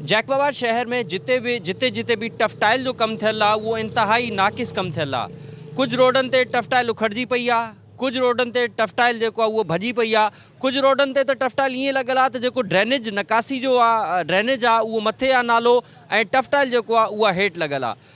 Jacob آباد شهر ۾ جتي به جتي جتي به ٽف ٽائل جو ڪم ٿيل آهي اهو انتهائي ناقص ڪم ٿيل آهي ڪجهه روڊن تي ٽف ٽائل اکڙجي پئي آهي ڪجهه روڊن تي ٽف ٽائل جيڪو آهي اهو ڀڄي پئي آهي ڪجهه روڊن تي ته ٽف ٽائل ائين لڳل آهي ته جيڪو ڊرينيج نڪاسي جو آهي ڊرينيج آهي اهو مٿي آهي نالو ۽ ٽف ٽائل جيڪو آهي اها هيٺ لڳل آهي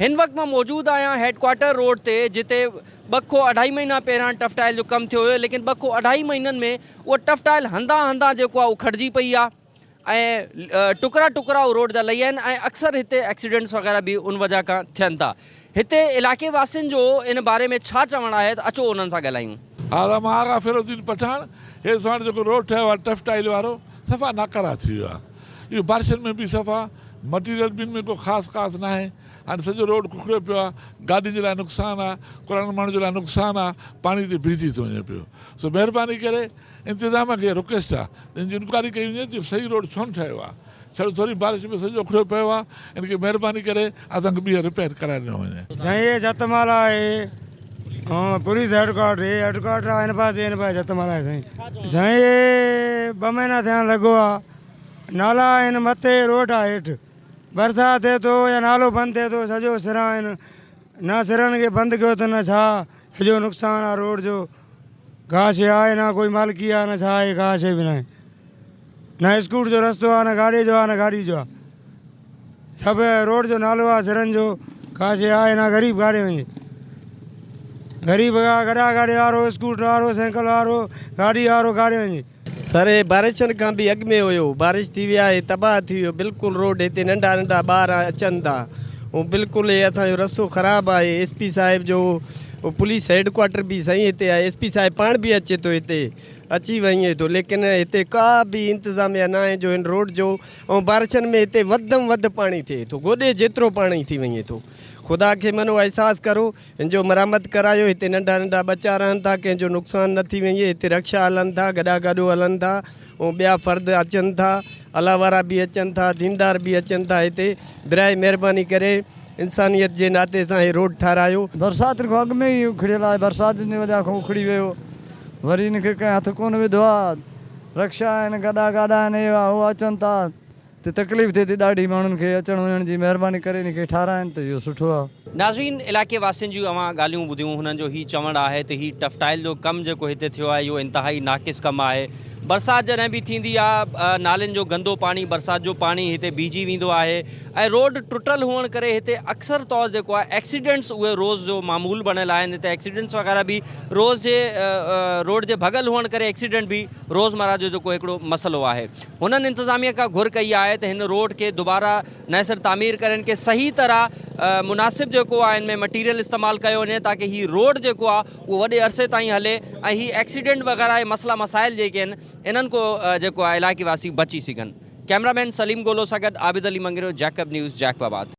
هن وقت مان موجود آهيان هيڊ ڪوارٽر روڊ تي جتي ٻه کؤ اڍائي مهينا پهريان ٽف ٽائل جو ڪم ٿيو هيو ليڪن ٻه کؤ اڍائي مهينن ۾ اها ٽف ٽائل هنڌان هنڌان جيڪو آهي اکڙجي پئي آهي ۽ ٽڪرا ٽڪرا اهو روڊ جا لهي آهن ۽ اڪثر هتي ايڪسيڊنٽس وغيره به ان وجه کان ٿين ٿا هتي علائقي واسين جو ان باري ۾ ڇا چوڻ آهي ته اچو انهن سان ڳالهايون. ها مان آغا فيرو الدين پٺاڻ هي ساڻ جيڪو روڊ ٺهيو آهي ٽف ٽائل وارو صفا ناڪاره ٿي ويو آهي اهو بارشن ۾ به صفا مٽيريل به ان ۾ ڪو خاص خاص ناهي هاڻي سڄو روڊ ڪڪڙيو پيو آهي گاڏين جي لاء نقصان آهي ڪراڙن ماڻهن جي لاء نقصان آهي پاڻي تي بيهجي ٿو وڃي پيو سو مهرباني ڪري انتظام کي رڪويسٽ آهي انڪوائري ڪئي وڃي ته صحيح روڊ ڇو نه ٺهيو آهي ڇڙو ٿوري بارش ۾ سڄو اکڙيو پيو آهي ان کي مهرباني ڪري اسان کي ٻيهر رپيئر ڪرائي ڏنو وڃي. سائين هي جت مال آهي ۽ پوليس هيڊڪوارٽر هي هيڊڪوارٽر آهي ان پاسي ان پاسي جت مال آهي سائين سائين هي ٻه مهينا ٿيا آهن لڳو آ نالا آهن مٿي روڊ آ هيٺ برسات ٿئي ٿو يا نالو بند ٿئي ٿو سڄو سرا آهن نه سرن کي بند ڪيو اٿن نه ڇا سڄو نقصان آ روڊ جو ڪا شيء آهي نه ڪوئي مالڪي آهي نه ڇا آهي ڪا شيء به ناهي نه اسڪوٽ جو رستو آهي نه گاڏي جو آهي نه گاڏي جو آهي سڀ روڊ جو نالو آهي سرن جو ڪا شيء آهي نه غريب ڪاڏي وڃي غريب گڏا گاڏي وارو اسڪوٽر وارو سينڪل وارو گاڏي وارو ڪاڏي وڃي سر هي بارشن کان به اڳ ۾ هيو بارش ٿي ويا هي تباهه ٿي ويو بلڪل روڊ هتي ننڍا ننڍا ٻار اچن ٿا ۽ بلڪل هي اسان جو رستو خراب آهي ايس پي صاحب جو پوليس هيڊ ڪوارٽر به سائين هتي آهي ايس پي صاحب پاڻ به اچي ٿو هتي اچي وڃي ٿو ليڪن هتي ڪا به انتظاميا نه آهي جو هن روڊ جو ۽ بارشن ۾ هتي وڌ م وڌ پاڻي ٿئي ٿو گوڏي جيترو پاڻي ٿي وڃي ٿو خدا کي منو احساس ڪرو هن جو مرمت ڪرايو، هتي ننڍا ننڍا ٻچا رهن ٿا، ڪنهن جو نقصان نه ٿي وڃي، هتي رڪشا هلن ٿا، گڏا گاڏو هلن ٿا ۽ ٻيا فرد اچن ٿا، الا وارا به اچن ٿا، ديندار به اچن ٿا هتي، براء مهرباني ڪري انسانيت جي ناتي سان هي روڊ ٺاهرايو. برسات کان اڳ ۾ ئي اکڙيل آهي، برسات جي وجهه کان اکڙي ويو، وري هن کي ڪنهن هٿ ڪونه وڌو آهي، رڪشا آهن، گڏا گاڏا آهن، هي اهو اچن ٿا. تي تڪليف ٿئي ٿي ڏاڍي ماڻهن کي اچڻ وڃڻ جي مهرباني ڪري ان کي ٺاهرائين ته اهو سٺو آهي. ناظرين علائقي واسين جون اوهان ڳالهيون ٻڌيون هنن جو هي چوڻ آهي ته هي ٽفٽائل جو ڪم جيڪو هتي ٿيو آهي اهو انتهائي ناقص ڪم آهي برسات جڏهن به ٿيندي آ نالين جو گندو پاڻي برسات جو پاڻي هتي بيهجي ويندو آهي ۽ روڊ ٽٽل هئڻ ڪري هتي اڪثر طور جيڪو آهي ايڪسيڊنٽس اهي روز جو معمول بڻيل آهن هتي ايڪسيڊنٽس وغيره به روز جي روڊ جي ڀڳل هئڻ ڪري ايڪسيڊنٽ به روزمره جو جيڪو هڪڙو مسئلو آهي. هنن انتظاميه کان گهر ڪئي آهي ته هن روڊ کي دوباره نئين سر تعمير ڪري هن کي صحيح طرح مناسب جيڪو آهي هن ۾ مٽيريل استعمال ڪيو وڃي تاڪه هي روڊ جيڪو آهي اهو وڏي عرصي تائين هلي ۽ هي ايڪسيڊنٽ وغيره هي مسئلا مسائل جيڪي آهن انهن کان جيڪو آهي علائقي واسي بچي سگهن ڪيمرا مين سليم گولو سان گڏ عابد علي مڱريو جيڪب نيوز جيڪب آباد.